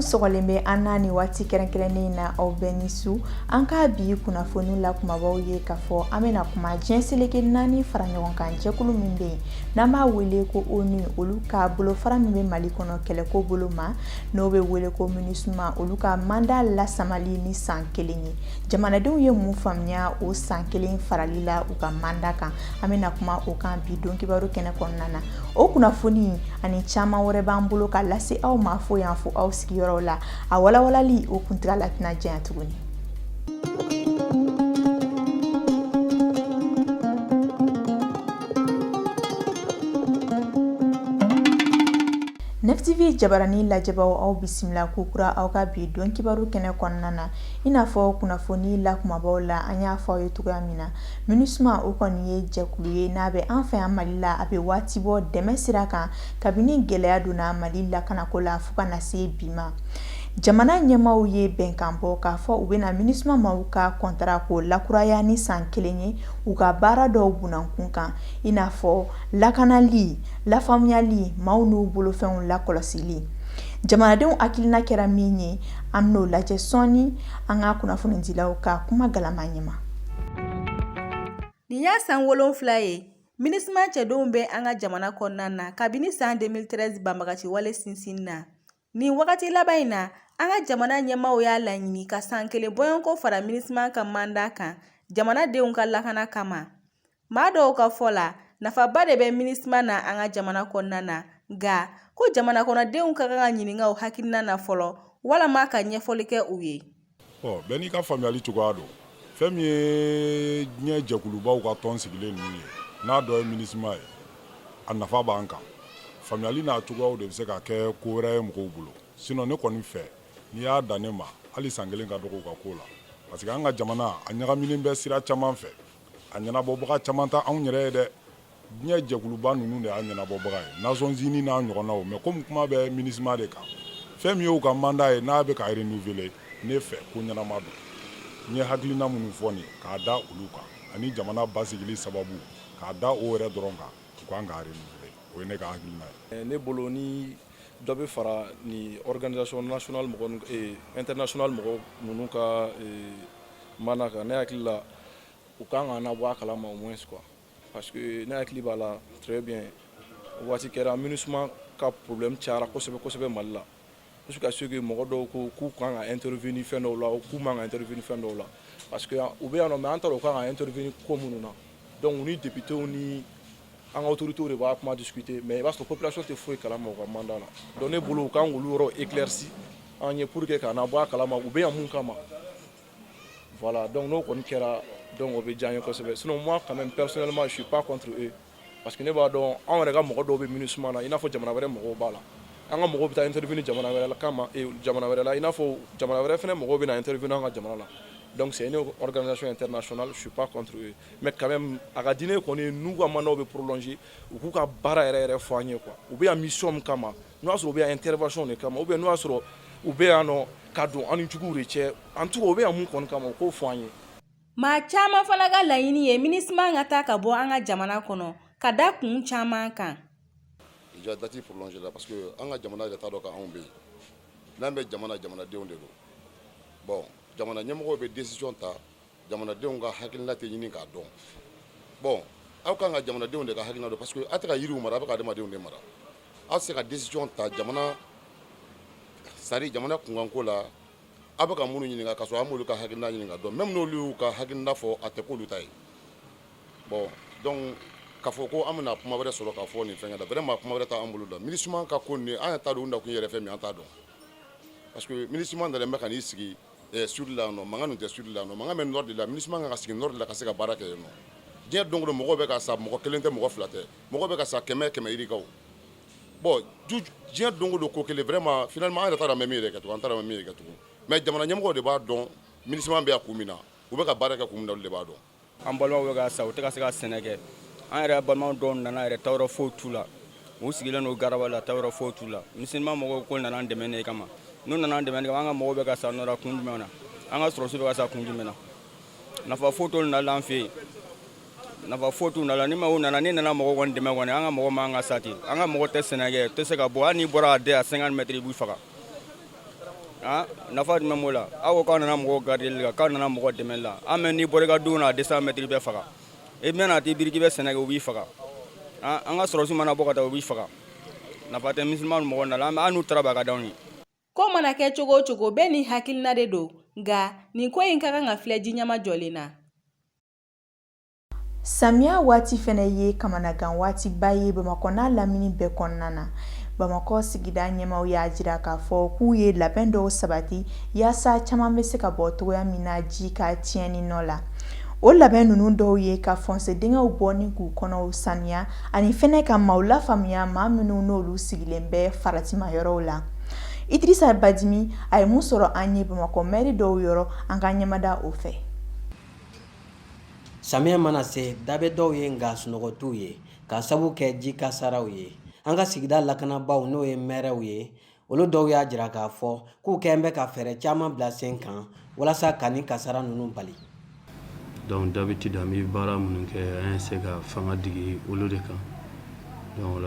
sɔgɔlen bɛ an na nin waati kɛrɛnkɛrɛnnen in na aw bɛɛ ni su an ka bi kunnafoni la kumabaw ye k'a fɔ an bɛna kuma diɲɛ seleke naani fara ɲɔgɔn kan jɛkulu min bɛ yen n'an b'a wele ko onu olu ka bolofara min bɛ mali kɔnɔ kɛlɛko bolo ma n'o bɛ wele ko minisuma olu ka manda lasamali ni san kelen ye jamanadenw ye mun faamuya o san kelen farali la u ka manda kan an bɛna kuma o kan bi don kibaru kɛnɛ kɔnɔna na o kunnafoni ani caman wɛrɛ b'an bolo ka lase aw ma fo yan fo aw sigiyɔrɔ la a walawalali o kuntagala tɛna janya tuguni Nefitibi jabarani lajɛbaaw aw bisimila ko kura aw ka bi don kibaru kɛnɛ kɔnɔna na i n'a fɔ kunnafoni la kumabaw la an y'a fɔ aw ye cogoya min na minisuma o kɔni ye jɛkulu ye n'a bɛ an fɛ yan mali la a bɛ waati bɔ dɛmɛ sira kan kabini gɛlɛya donna mali lakanako la fo ka na se bi ma jamana ɲɛmaaw ye bɛnkan bɔ k'a fɔ u bɛna minisuma maaw ka kɔntara ko lakuraya ni san kelen ye u ka baara dɔw bunankun kan i n'a fɔ lakanali lafaamuyali maaw n'u bolofɛnw lakɔlɔsili jamanadenw hakilina kɛra min ye an bɛn'o lajɛ sɔɔni an ka kunnafonidilaw ka kuma galama ɲɛma nin y'a san wolonfila ye minisiman cɛdenw bɛ an ka jamana kɔnɔna na kabini san 2013 banbagaci wale sinsinna Nin wagati laban in na an ka jamana ɲɛmaaw y'a laɲini ka san kelen bɔɲɔgɔnko fara minisiman ka manda kan jamanadenw ka lakana kama maa dɔw ka fɔ la nafaba de bɛ minisiman na an ka jamana kɔnɔna na nka ko jamana kɔnɔdenw ka kan ka ɲininka u hakilina na fɔlɔ walama ka ɲɛfɔli kɛ u ye ɔ bɛɛ n'i ka faamuyali cogoya don fɛn min ye diɲɛ jɛkulubaw ka tɔn sigilen ninnu ye n'a dɔ ye minisima ye a nafa b'an kan faamuyali n'a cogoyaw de bɛ se ka kɛ ko wɛrɛ ye mɔgɔw bolo sinɔn ne kɔni fɛ n'i y'a dan ne ma hali san kelen ka dɔgɔ u ka ko la parce que an ka jamana a ɲagaminen bɛ sira caman fɛ a ɲɛnabɔbaga caman tɛ anw yɛrɛ ye dɛ diɲɛ jɛkuluba ninnu de y'a ɲɛnabɔbaga ye Nations Unies n'a ɲɔgɔnnaw mais comme kuma bɛ MINUSMA de kan fɛn min y'u ka mandat ye n'a bɛ ka renouveler ne fɛ ko ɲɛnama don n ye hakilina minnu fɔ nin k'a da olu kan ani jamana basigili sababu k'a da o yɛrɛ dɔrɔn kan u kan k'a renouveler o ye ne ka hakilina ye. ne bolo ni dɔ bɛ fara nin organisation nationale mɔgɔ eh, internationale mɔgɔ ninnu ka eh, mandat kan ne hakili la u kan ka na bɔ a kalama au moins quoi Parce que ne hakili b'a la très bien waati kɛra MINUSMA ka problème cayara kosɛbɛ kosɛbɛ Mali la jusqu'à ce que mɔgɔ dɔw ko k'u kan ka intervenir fɛn dɔw la k'u man ka intervenir fɛn dɔw la parce que u bɛ yan nɔ mais an t'a dɔn u kan ka intervenir ko minnu na donc u ni députés ni an ka autorités de b'a kuma discuter mais i b'a sɔrɔ population tɛ foyi kalama u ka mandat la donc ne bolo u kan k'olu yɔrɔ éclairci an ye pour que k'an bɔ a kalama u bɛ yan mun kama Voilà donc n'o kɔni kɛra donc o bɛ diya an ye kosɛbɛ sinon moi quand même personnellement je suis pas contre eux parce que ne b'a dɔn anw yɛrɛ ka mɔgɔ dɔw bɛ MINUSMA na i n'a fɔ jamana wɛrɛ mɔgɔw b'a la an ka mɔgɔw bɛ taa intervenir jamana wɛrɛ la kama jamana wɛrɛ la i n'a fɔ jamana wɛrɛ fana mɔgɔw bɛ na intervenir an ka jamana la donc c'est une organisation internationale je suis pas contre eux mais quand même a ka di ne ye kɔni n'u ka mandat bɛ prolonger u k'u ka baara yɛrɛ yɛrɛ fɔ an ye quoi u bɛ yan mission min kama N'o y'a sɔrɔ u bɛ yan intervention de kama ou bien n'o y'a sɔrɔ u bɛ yan nɔ ka don an ni juguw de cɛ en tout cas u bɛ yan mun kɔni kama u k'o fɔ an ye maa caman fana ka laɲini ye MINUSMA ka taa ka bɔ an ka jamana kɔnɔ ka da kun caman kan ja date prolonger la parce que an ka jamana yɛrɛ t'a dɔn k'anw bɛ yen n'an bɛ jamana jamanadenw de don jamana ɲɛmɔgɔw bɛ décision ta jamanadenw ka hakilina tɛ ɲini k'a dɔn bon aw kan ka jamanadenw de ka hakilina dɔn parce que aw tɛ ka yiriw mara aw bɛ ka adamadenw de mara aw tɛ se ka décision ta jamana c'est à dire jamana kunkanko la aw bɛ ka minnu ɲininka k'a sɔrɔ aw m'olu ka hakilina ɲini ka dɔn même n'olu y'u ka hakilina fɔ a tɛ k'olu ta ye bon donc k'a fɔ ko an bɛna kuma wɛrɛ sɔrɔ k'a fɔ nin fɛnkɛ la vraiment kuma wɛrɛ t'an bolo la MINUSMA ka ko nin an yɛrɛ t'a dɔn u nakun yɛrɛ fɛn min ye an t'a dɔn parce que MINUSMA nalen bɛ ka n'i sigi Ɛɛ sud la yan nɔ, mankan dun tɛ sud la yan nɔ, mankan bɛ nord de la MINUSMA ka kan ka sigi nord de la ka se ka baara kɛ yen nɔ, diɲɛ don o don mɔgɔw bɛ ka sa mɔgɔ kelen tɛ mɔgɔ fila tɛ, mɔgɔw bɛ ka sa kɛmɛ kɛmɛ yirikaw, bon diɲɛ don o don ko kelen vraiment finalement an yɛrɛ t'a dɔn an bɛ min yɛrɛ kɛ tugun, an t'a dɔn an bɛ min yɛrɛ kɛ tugun mais jamana ɲɛmɔgɔw de b'a dɔn MINUSMA bɛ yan kun min na, u bɛ ka baara kɛ kun min na olu de b'a dɔn an balimaw bɛ ka sa u tɛ ka se ka sɛnɛ kɛ an yɛrɛ balimaw dɔw nana yɛrɛ taayɔrɔ foyi t'u la u sigilen don garaba la taayɔrɔ foyi t'u la MINUSMA mɔgɔw ko nana an dɛmɛ ne kama n'u nana an dɛmɛ ne kama an ka mɔgɔw bɛ ka sa nɔra kun jumɛn na an ka sɔrɔsi bɛ ka sa kun jumɛn na nafa foyi t'olu na la an fɛ yen nafa foyi t'u na la ni maaw nana n'i nana mɔgɔw kɔni dɛmɛ kɔni an ka mɔgɔ man ka sa ten an ka mɔgɔ tɛ sɛnɛ kɛ tɛ se ka bɔ hali n'i bɔra a den à 50 mètres i b'i faga Ah, nafa jumɛn b'o la aw ko k'aw nana mɔgɔw garder la k'aw nana mɔgɔ dɛmɛli la an mɛ n'i bɔra i ka du kɔnɔ à 200 mètres i bɛ faga i bɛna t'i biri k'i bɛ sɛnɛ kɛ u b'i faga ah, an ka sɔrɔsiw mana bɔ ka taa u b'i faga nafa tɛ MINUSMA mɔgɔ na la an n'u taara b'a ka d'anw ye ko mana kɛ cogo o cogo bɛɛ ni hakilina de don nka nin ko in ka kan ka filɛ ji ɲɛmajɔlen na Samiya waati fɛnɛ ye kamanagan waatiba ye Bamakɔ n'a lamini bɛɛ kɔnɔna na. Bamakɔ sigida ɲɛmaaw y'a jira k'a fɔ k'u ye labɛn dɔw sabati yaasa caman bɛ se ka bɔ cogoya min na ji ka tiɲɛni nɔ la. O labɛn ninnu dɔw ye ka fɔnse dingɛw bɔ ni k'u kɔnɔw saniya ani fɛnɛ ka maaw lafaamuya maa minnu n'olu sigilen bɛ faratima yɔrɔw la. Idirisa Badimi, a ye mun sɔrɔ an ye Bamakɔ mɛri dɔw yɔrɔ, an ka ɲɛmada o fɛ. Samiya mana se da bɛ dɔw ye nka sunɔgɔ t'u ye k'a sabu kɛ ji kasaraw ye an ka sigida lakanabaaw n'o ye mɛriw ye olu dɔw y'a jira k'a fɔ k'u kɛlen bɛ ka fɛɛrɛ caman bila sen kan walasa ka nin kasara ninnu bali donc d'habitude an bɛ baara minnu kɛ an ye se ka fanga digi olu de kan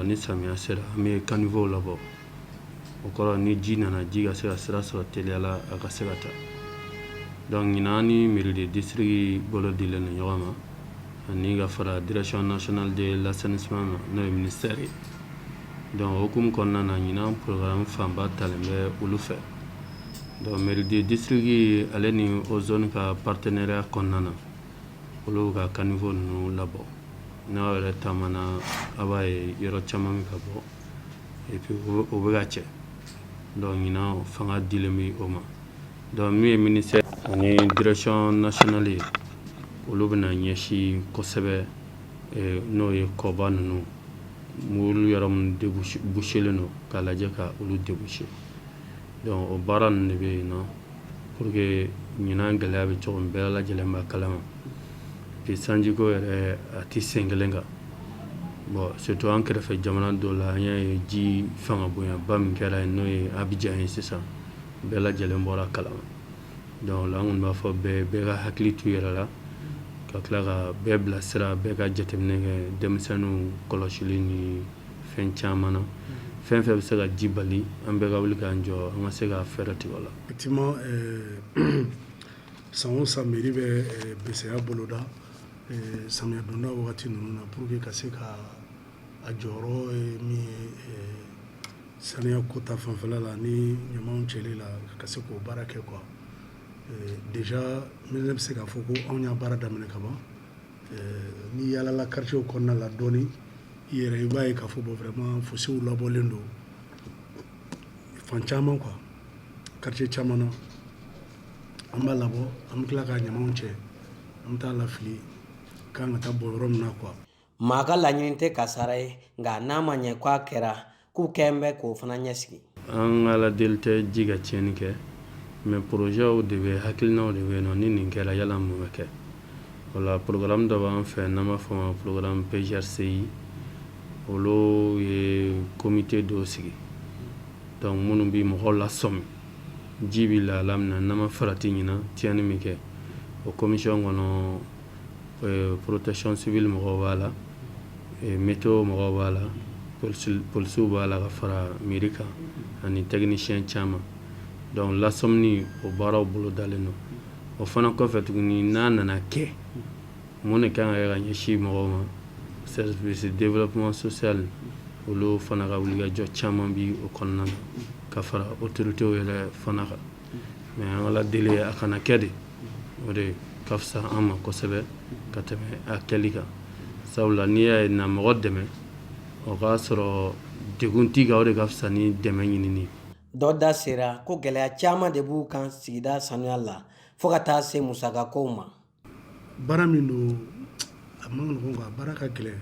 ni samiya sera an bɛ caniveaux labɔ o kɔrɔ ni ji nana ji ka se ka sira sɔrɔ teliya la a ka se ka taa donc ɲinan ni mairie de district bolo dilen don ɲɔgɔn ma ani ka fara direction nationale de l'assainissement ma n'o ye ministère ye donc o hukumu kɔnɔna na ɲinan programme fanba talen bɛ olu fɛ donc mairie de district ale ni Ozone ka partenariat kɔnɔna na olu ka caniveau ninnu labɔ n'aw yɛrɛ taamana a b'a ye yɔrɔ caman bɛ ka bɔ o bɛ ka cɛ donc ɲinan fanga dilen bɛ o ma donc min ye ministère ani direction nationale ye olu bɛna ɲɛsin kosɛbɛ n'o ye kɔba ninnu ma olu yɔrɔ minnu bouchélen don k'a lajɛ ka olu déboucher donc o baara ninnu de bɛ yen nɔn pour que ɲinan gɛlɛya bɛ cogo min bɛɛ lajɛlen b'a kalama sanjiko yɛrɛ a tɛ sen kelen kan bon surtout an kɛrɛfɛ jamana dɔ la an y'a ye ji fanga bonyaba min kɛra yen n'o ye Abidjan ye sisan bɛɛ lajɛlen bɔra a kalama donc là an kɔni b'a fɔ bɛɛ bɛɛ ka hakili to i yɛrɛ la ka tila ka bɛɛ bilasira bɛɛ ka jateminɛ kɛ denmisɛnninw kɔlɔsili ni fɛn caman na fɛn fɛn bɛ se ka ji bali an bɛɛ ka wuli k'an jɔ an ka se ka fɛɛrɛ tigɛ o la San o san mairie bɛ bɛsɛya boloda samiya donda waati ninnu na pour que ka se ka a jɔyɔrɔ min ye saniya ko ta fanfɛla la ani ɲaman cɛli la ka se k'o baara kɛ quoi déjà ne bɛ se k'a fɔ ko anw y'a baara daminɛ ka ban n'i yaalala quartier kɔnɔna la dɔɔni i yɛrɛ i b'a ye k'a fɔ bon vraiment fossés labɔlen don fan caman quoi quartier caman na. an b'a labɔ an tila ka ɲamanw cɛ an bɛ taa lafili k'an ka taa bɔ yɔrɔ min na quoi maa ka laɲini tɛ kasara ye nka n'a ma ɲɛ k'a kɛra k'u kɛn bɛ k'o fana ɲɛsigi an ala deli tɛ ji ka tiɲɛni kɛ mais projetw de bɛ hakilinaw de bɛ yen nɔ ni nin kɛra yala mun bɛ kɛ o la programme dɔ b'an fɛ n'an b'a fɔ ma programme PGRCI olu ye comité dɔw sigi donc minnu bɛ mɔgɔw lasɔmi ji bɛ lahala min na n'an ma farati ɲinan tiɲɛni min kɛ o commission kɔnɔ euh, protection civile mɔgɔw b'a la météo mɔgɔw b'a la polisiw b'a la ka fara mairie kan ani technicien caman donc lasɔmini o baaraw bolo dalen don o fana kɔfɛ tuguni n'a nana kɛ mun de kan ka kɛ ka ɲɛsin mɔgɔw ma service développement social olu fana ka wulikajɔ caman bi o kɔnɔna na ka fara autorités yɛrɛ fana kan mais an ala deli ye a kana kɛ de o de ka fisa an ma kosɛbɛ ka tɛmɛ a kɛli kan sabula n'i y'a ye na mɔgɔ dɛmɛ o k'a sɔrɔ degun t'i kan o de ka fisa ni dɛmɛ ɲinini dɔ da sera ko gɛlɛya caman de b'u kan sigida sanuya la fɔɔ ka taa se musakakow ma baara min don a man nɔgɔn a baara ka gɛlɛn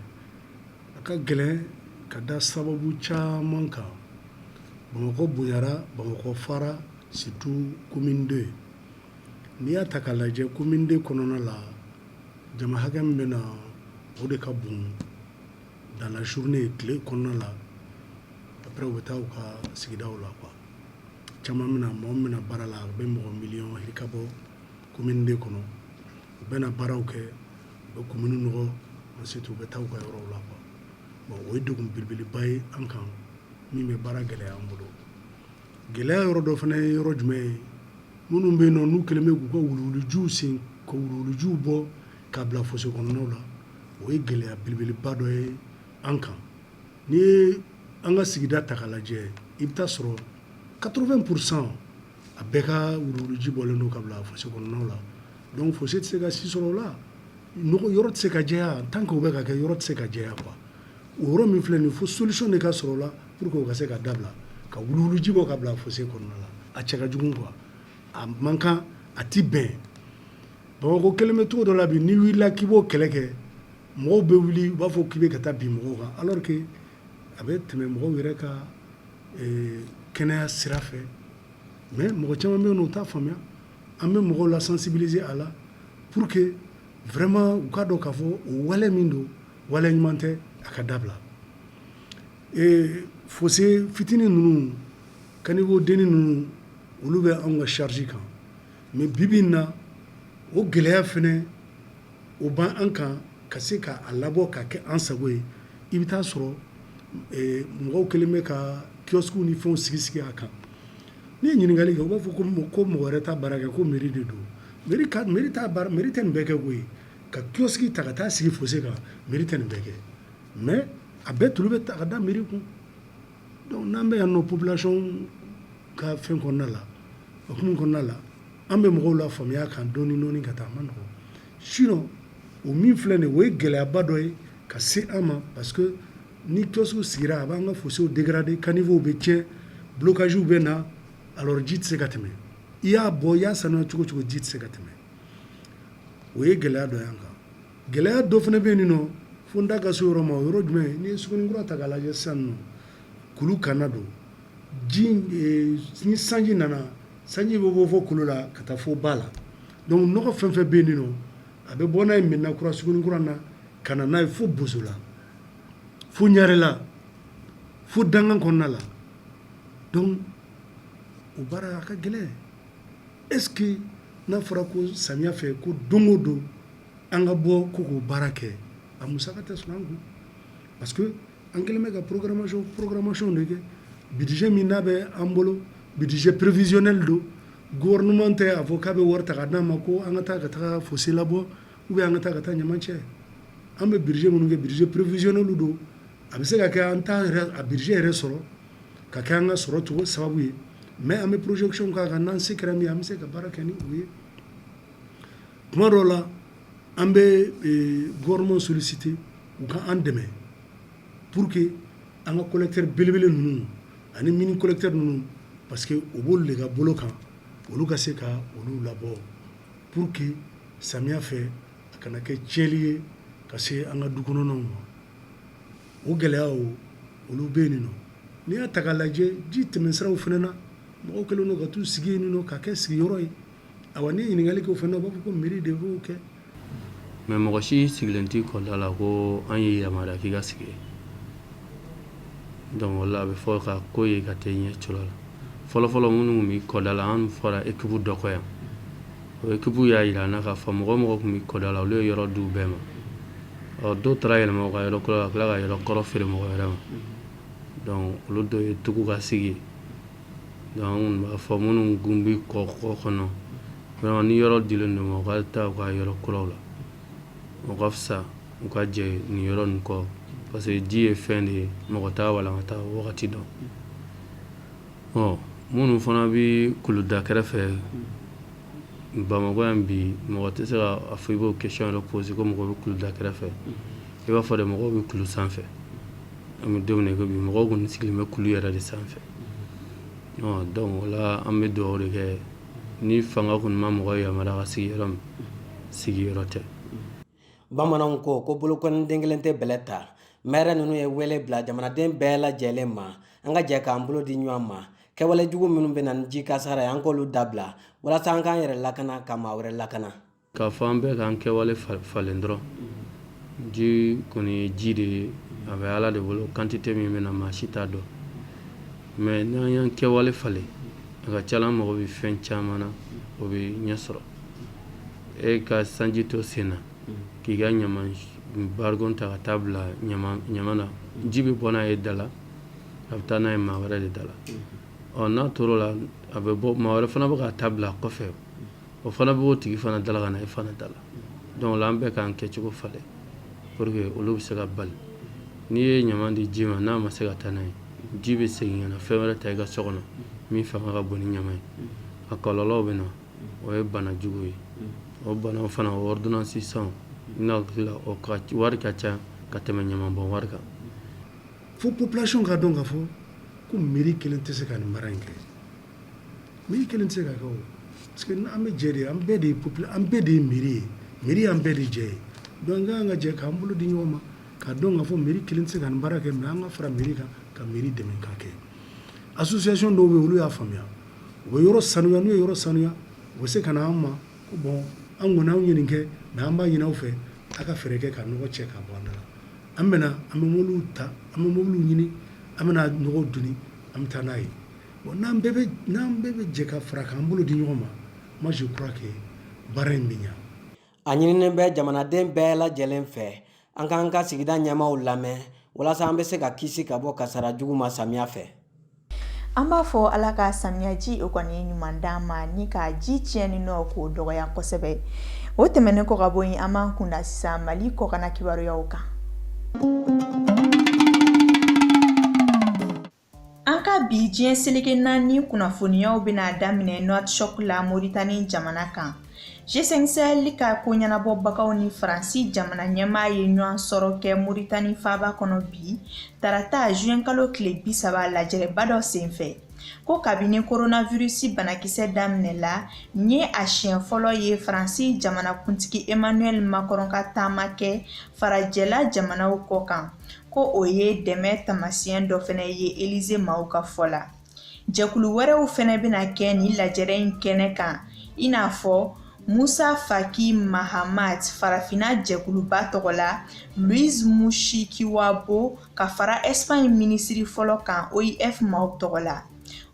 a ka gɛlɛn ka da sababu caman kan bamakɔ bonyara bamakɔ fara surtout commune 2 n'i y'a ta k'a lajɛ commune 2 kɔnɔna la jama hakɛ min bɛ na o de ka bon dans la journée tile kɔnɔna la après u bɛ taa u ka sigidaw la quoi caman min mɔgɔ min bɛ na baara la a bɛ mɔgɔ miliyɔn yirika bɔ commune 2 kɔnɔ u bɛ na baaraw kɛ u bɛ commune nɔgɔ ensuite u bɛ taa u ka yɔrɔw la quoi bon o ye degun belebeleba ye an kan min bɛ baara gɛlɛya an bolo gɛlɛya yɔrɔ dɔ fana ye yɔrɔ jumɛn ye minnu bɛ yen nɔ n'u kɛlen bɛ k'u ka wuluwulujiw sen ka wuluwulujiw bɔ k'a bila fossé kɔnɔnaw la o ye gɛlɛya belebeleba dɔ ye an kan n'i ye an ka sigida ta k'a lajɛ i bɛ taa sɔrɔ 80 pour cent A bɛɛ ka wuluwuluji bɔlen don ka bila fossé kɔnɔnaw la donc fossé tɛ se ka si sɔrɔ o la nɔgɔ yɔrɔ tɛ se ka jɛya en tant que o bɛ ka kɛ yɔrɔ tɛ se ka jɛya quoi o yɔrɔ min filɛ nin ye fo solution de ka sɔrɔ o la pour que o ka se ka dabila ka wuluwuluji bɔ ka bila fossé kɔnɔna la a cɛ ka jugu quoi a man kan a tɛ bɛn Bamakɔ kɛlen bɛ cogo dɔ la bi n'i wulila k'i b'o kɛlɛ kɛ mɔgɔw bɛ wuli u b'a fɔ k'i bɛ ka taa bin mɔgɔw kan alors que a bɛ tɛmɛ mɔgɔw yɛrɛ ka Ee kɛnɛya sira fɛ mais mɔgɔ caman bɛ yen u t'a faamuya an bɛ mɔgɔw la sensibiliser a la pour que vraiment u k'a dɔn k'a fɔ o wale min don wale ɲuman tɛ a ka dabila ee fossé fitinin ninnu caniveau denni ninnu olu bɛ anw ka charge kan mais bi bi in na o gɛlɛya fana o b'an kan ka se k'a labɔ ka kɛ an sago ye i bɛ t'a sɔrɔ mɔgɔw kɛlen bɛ ka kiosquew ni fɛnw sigi sigi a kan n'i ye ɲininkali kɛ u b'a fɔ ko mɔgɔ wɛrɛ t'a baara kɛ ko mairie de don mairie tɛ nin bɛɛ kɛ koyi ka kiosque ta ka t'a sigi fossé kan mairie tɛ nin bɛɛ kɛ mais a bɛɛ tulu bɛ ta ka da mairie kun Donc n'an bɛ yan nɔ population ka fɛn kɔnɔna la o fɛn kɔnɔna la an bɛ mɔgɔw lafaamuya kan dɔɔni dɔɔni ka taa mais sinon o min filɛ nin o ye gɛlɛyaba dɔ ye ka se an ma parce que ni kiosque sigira a b'an ka fosséw dégrader caniveauw bɛ tiɲɛ blocagew bɛ na a ji tɛ se ka tɛmɛ i y'a bɔ i y'a saniya cogo cogo ji tɛ se ka tɛmɛ o ye gɛlɛya dɔ y'an kan gɛlɛya dɔ fana bɛ yen nin nɔ fo n da ka se yɔrɔ ma o yɔrɔ jumɛn ye n'i ye Sugunnikura ta k'a lajɛ sisan nɔ kulu kanna don ji eh, ni sanji nana sanji bɛ bɔ fo kulu la ka taa fo ba la donc nɔgɔ fɛn fɛn bɛ yen nin nɔ a bɛ bɔ n'a ye Medina kura Sugunnikura na ka na n'a ye fo Bosola fo Ɲarela fo dankan kɔnɔna la donc o baara a ka gɛlɛn est ce que n'a fɔra ko samiya fɛ ko don o don An ka bɔ ko k'o baara kɛ a musaka tɛ sɔrɔ an kun parce que an kɛlen bɛ ka programmation de kɛ budget min n'a bɛ an bolo budget prévisionnel don gouvernement tɛ a fɔ k'a bɛ wari ta ka d'an ma ko an ka taa ka taa fossé labɔ ou bien an ka taa ka taa ɲaman cɛ an bɛ budget minnu kɛ budget prévisionnel don a bɛ se ka kɛ an t'a yɛrɛ a budget yɛrɛ sɔrɔ ka kɛ an ka sɔrɔ cogo sababu ye mais an bɛ projection k'a kan n'an se kɛra min ye an bɛ se ka baara kɛ ni o ye tuma dɔw la an bɛ gouvernement solliciter u ka an dɛmɛ pour que an ka collecteur belebele ninnu ani mini collecteur ninnu parce que o b'olu de ka bolo kan olu ka se ka olu labɔ pour que samiya fɛ a kana kɛ tiɲɛli ye ka se an ka du kɔnɔnaw ma o gɛlɛyaw olu bɛ yen nin nɔ n'i y'a ta k'a lajɛ ji tɛmɛsiraw fana na mɔgɔw kɛlen don ka taa u sigi yen nin nɔ ka kɛ sigiyɔrɔ ye Awa n'i ye ɲininkali kɛ o fɛnɛ na u b'a fɔ ko mairie de b'o kɛ mais mɔgɔ si sigilen tɛ kɔda la ko an ye yamaruya k'i ka sigi donc o la a bɛ fɔ ka ko ye ka tɛ ɲɛ cɔlɔ la fɔlɔfɔlɔ minnu tun bɛ kɔda la an fɔra équipe dɔ kɔ yan o équipe y'a yira an na k'a fɔ mɔgɔ o mɔgɔ tun bɛ kɔda la olu ye yɔrɔ di u bɛɛ ma ɔ dɔw taara yɛlɛma u ka yɔrɔ kura la ka tila ka yɔrɔ kɔrɔ feere mɔgɔ wɛrɛ ma donc olu dɔ ye tugu ka sigi yen Donc an kɔni b'a fɔ minnu kun bɛ kɔ kɔnɔ ni yɔrɔ dilen don u ma u ka taa u ka yɔrɔ kura la o ka fisa u ka jɛ nin yɔrɔ nin kɔ parce que ji ye fɛn de ye mɔgɔ t'a walankata wagati dɔn ɔ minnu fana bɛ kuluda kɛrɛfɛ Bamakɔ yan bi mɔgɔ tɛ se k'a fɔ i b'o question poser ko mɔgɔ bɛ kuluda kɛrɛfɛ i b'a fɔ de mɔgɔ bɛ kulu sanfɛ an bɛ don min na i ko bi mɔgɔw kɔni sigilen bɛ kulu yɛrɛ de sanfɛ donc o la an bɛ dugawu de kɛ ni fanga kɔni ma mɔgɔ yamaruya ka sigi yɔrɔ min sigiyɔrɔ tɛ bamananw ko ko bolokɔniden kelen tɛ bɛlɛ ta maire ninnu ye wele bila jamanaden bɛɛ lajɛlen ma an ka jɛ k'an bolo di ɲɔgɔn ma kɛwalejugu minnu bɛ na ni ji kasara ye an k'olu dabila walasa an k'an yɛrɛ lakana ka maa wɛrɛ lakana K'a fɔ an bɛɛ k'an kɛwale falen dɔrɔn ji kɔni ye ji de ye a bɛ ala de bolo quantité min bɛ na maa si t'a dɔn mais n'an y'an kɛwale falen a ka ca la an mago bɛ fɛn caman na o bɛ ɲɛ sɔrɔ e ka sanji to sen na k'i ka ɲama barikon ta ka taa bila ɲama na ji bɛ bɔ n'a ye da la a bɛ taa n'a ye maa wɛrɛ de da la ɔ n'a tor'o la a bɛ bɔ maa wɛrɛ fana bɛ ka taa bila a kɔfɛ o fana bɛ o tigi fana da la ka na e fana da la donc an bɛɛ k'an kɛcogo falen pour que olu bɛ se ka bali n'i ye ɲama di ji ma n'a ma se ka taa n'a ye ji bɛ segin ka na fɛn wɛrɛ ta i ka so kɔnɔ min fanga ka bon ni ɲama ye a kɔlɔlɔw bɛ na o ye bana jugu ye o banaw fana o ordonnance san ne hakili la o ka wari ka ca ka tɛmɛ ɲamanbɔn wari kan fo population k'a dɔn k'a fɔ ko mairie kelen tɛ se ka nin baara in kɛ Mairie kelen tɛ se k'a kɛ o parce que an bɛ jɛ de, an bɛɛ de ye popula an bɛɛ de ye mairie ye, mairie y'an bɛɛ de jɛ ye donc an ka kan ka jɛ k'an bolo di ɲɔgɔn ma k'a dɔn k'a fɔ mairie kelen tɛ se ka nin baara kɛ mais an ka fara mairie kan ka mairie dɛmɛ k'a kɛ association dɔw bɛ yen olu y'a faamuya u bɛ yɔrɔ sanuya n'u ye yɔrɔ sanuya u bɛ se ka na an ma ko bon an kɔni anw ye nin kɛ mais an b'a ɲini aw fɛ a ka fɛɛrɛ kɛ ka nɔgɔ cɛ ka bɔ an da la an bɛna an bɛ mobiliw ta an bɛ mobiliw ɲini an bɛna nɔgɔw doni an bɛ taa n'a ye Bon n'an bɛɛ bɛ jɛ ka fara k'an bolo di ɲɔgɔn ma moi je crois que baara in bɛ ɲa a ɲininen bɛ jamanaden bɛɛ lajɛlen fɛ an k'an ka sigida ɲɛmaaw lamɛn walasa an bɛ se ka kisi ka bɔ kasara jugu ma samiya fɛ an b'a fɔ ala ka samiyaji o kɔni ɲuman d'an ma ni ka ji tiɲɛni nɔ k'o dɔgɔya kosɛbɛ o tɛmɛnen kɔ ka bɔ yen an b'an kunda sisan mali kɔkanna kibaruyaw kan An ka bi diɲɛ seleke naani kunnafoniyaw bɛna daminɛ Nouakchott la Mauritanie jamana kan. G5 Sahel ka ko ɲɛnabɔbagaw ni Faransi jamana ɲɛmaa ye ɲɔgɔn sɔrɔ kɛ Mauritanie faaba kɔnɔ bi, tarata juin kalo tile 30 lajɛrɛba dɔ senfɛ. Ko kabini coronavirus banakisɛ daminɛ la, nin ye a siɲɛ fɔlɔ ye Faransi jamanakuntigi Emmanuel Macron ka taama kɛ farajɛla jamanaw kɔkan. ko o ye dɛmɛ taamasiyɛn dɔ fɛnɛ ye Elize maaw ka fɔ la. Jɛkulu wɛrɛw fɛnɛ bɛna kɛ nin lajɛrɛ in kɛnɛ kan i n'a fɔ Musa Faki Mahamat farafinna jɛkuluba tɔgɔ la Louise Mushikiwabo ka fara Espagne minisiri fɔlɔ kan OIF maaw tɔgɔ la.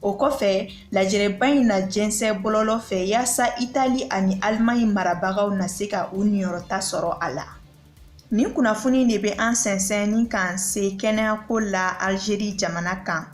O kɔfɛ lajɛrɛba in na jɛnsɛ bɔlɔlɔ fɛ yaasa Itali ani Allemagne marabagaw na se ka u niyɔrɔta sɔrɔ a la. Nin kunnafoni de bɛ an sɛnsɛn ni k'an se kɛnɛyako la Alizeri jamana kan.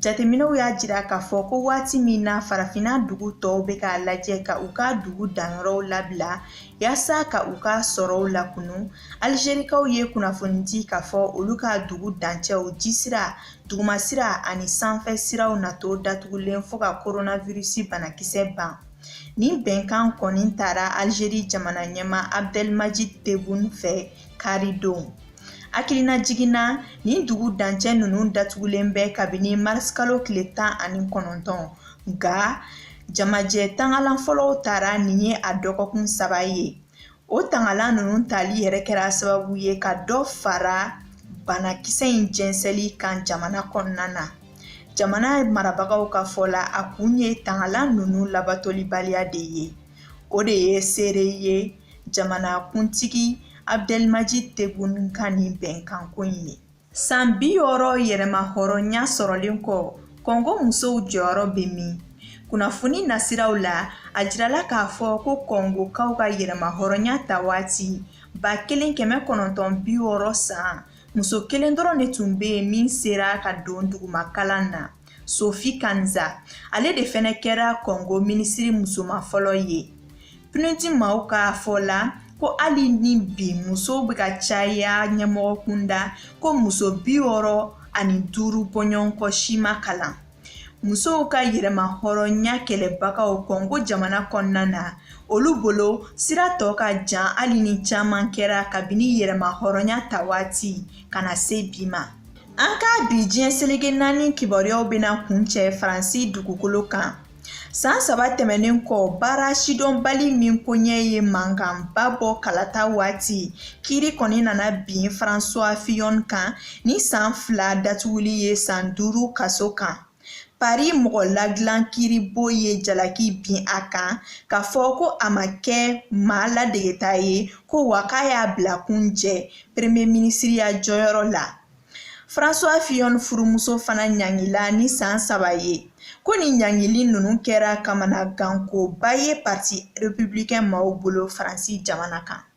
Jateminɛw y'a jira k'a fɔ ko waati min na farafinna dugu tɔw bɛ k'a lajɛ ka u ka dugu danyɔrɔw labila yaasa ka u ka sɔrɔw lakunu, Alizerikaw ye kunnafoni di k'a fɔ olu ka dugu dancɛw, jisira, dugumasira ani sanfɛ siraw na to datugulen fo ka koronawirusi banakisɛ ban. Nin bɛnkan kɔni tara Alizeri jamana ɲɛmaa Abdelmadjid Tebboune fɛ karidon. Hakilinajigin na nin dugu dancɛ ninnu datugulen bɛ kabini marisikalo tile tan ani kɔnɔntɔn nka jamajɛ tangalan fɔlɔw tara nin ye a dɔgɔkun saba ye O tangalan ninnu tali yɛrɛ kɛra sababu ye ka dɔ fara banakisɛ in jɛnsɛli kan jamana kɔnɔna na jamana marabagaw ka fɔ la a kun ye tangalan ninnu labatolibaliya de ye o de ye seere ye jamanakuntigi Abdelmadjid Tebboune ka nin bɛnkanko in ye San bi wɔɔrɔ yɛrɛmahɔrɔnya sɔrɔlen kɔ kɔngo musow jɔyɔrɔ bɛ min kunnafoni nasiraw la a jirala k'a fɔ ko kɔngokaw ka yɛrɛmahɔrɔnya ta waati ba kelen kɛmɛ kɔnɔntɔn bi wɔɔrɔ san muso kelen dɔrɔn de tun bɛ yen min sera ka don dugumakalan na Sophie Kanza ale de fɛnɛ kɛra Kɔngo minisiri musoman fɔlɔ ye. PNUD maaw ka fɔ la ko hali ni bi musow bɛ ka caya ɲɛmɔgɔ kunda ko muso bi wɔɔrɔ ani duuru bɔɲɔgɔnkɔ si ma kalan. Musow ka yɛrɛma hɔrɔnya kɛlɛbagaw Kɔngo jamana kɔnɔna na olu bolo sira tɔ ka jan hali ni caman kɛra kabini yɛrɛma hɔrɔnya ta waati ka na se bi ma. An ka bi diɲɛ selege naani kibaruyaw bɛna kuncɛ Faransi dugukolo kan. San saba tɛmɛnen kɔ, baara sidɔnbali min koɲɛ ye mankanba bɔ kalata waati, kiiri kɔni nana bin François Fillon kan ni san fila datuguli ye san duuru kaso kan. Paris mɔgɔ ladilan kiiribon ye jalaki bin a kan k'a fɔ ko a ma kɛ maa ladegeta ye ko wa k'a y'a bila kun jɛ premier minisiriya jɔyɔrɔ la François Fillon furumuso fana ɲangila ni san saba ye ko nin ɲangili ninnu kɛra kamanagankoba ye parti républicain maaw bolo Faransi jamana kan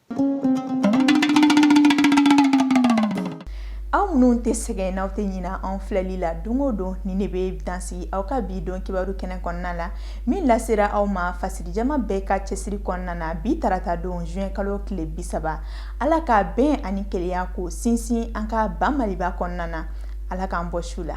aw minnu tɛ sɛgɛn n'aw tɛ ɲina an filɛli la don o don nin ne bɛ dansigi aw ka bi don kibaru kɛnɛ kɔnɔna la min lasera aw ma fasiri jama bɛɛ ka cɛsiri kɔnɔna na bi tarata don juin kalo tile bi saba ala ka bɛn ani kelenya ko sinsin an ka ban maliba kɔnɔna na ala k'an bɔ su la